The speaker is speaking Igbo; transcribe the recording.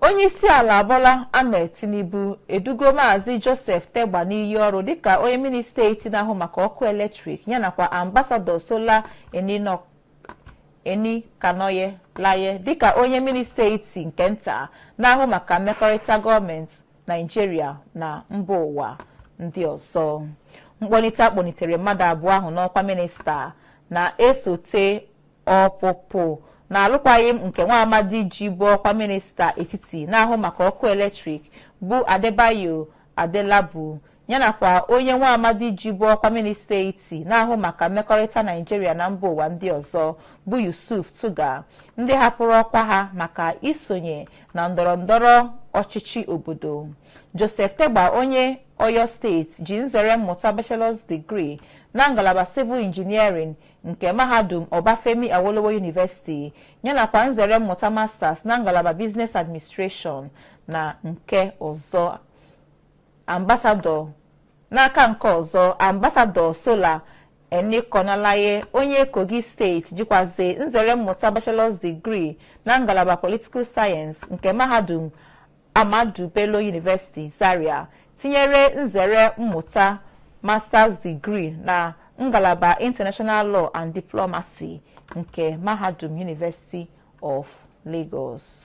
onye isi ala Bola Ahmed Tinubu edugo maazị Joseph Tegbe n'iyi ọrụ dịka onye minista etiti na-ahụ maka ọkụ eletrik ya nakwa ambasadọ Sola Enikanolaiye dịka onye minista etiti nke nta na-ahụ maka mmekọrịta gọọmenti Naijiria na mba ụwa ndị ọzọ mkpọlite a kpọlitere mmadụ abụọ ahụ n'ọkwa minista na-esote Ọpụpụ na alụkwaghị m nke nwa amadị jibu ọkwa minista etiti na-ahụ maka ọkụ eletrik bụ Adebayo Adelabu yanakwa onye nwa amadị jibu ọkwa minista etiti na-ahụ maka mmekọrịta Naijiria na mba ụwa ndị ọzọ bụ Yusuf Tuggar ndị hapụrụ ọkwa ha maka isonye na ndọrọ ndọrọ ọchịchị obodo. Joseph Tegbe onye Oyo steeti ji nzere mmụta bachelor's degree na ngalaba civil engineering nke mahadum Obafemi Awolowo University yanakwa nzere mmụta Masters na ngalaba Business Administration. N'aka nke ọzọ, Ambasadọ Sola Enikanolaiye onye Kogi steeti jikwazi nzere mmụta Bachelor's Degree na ngalaba Political Science nke mahadum Ahmadu Bello University Zaria tinyere nzere mmụta Masters Degree na ngalaba International Law and Diplomacy nke Mahadum University of Lagos.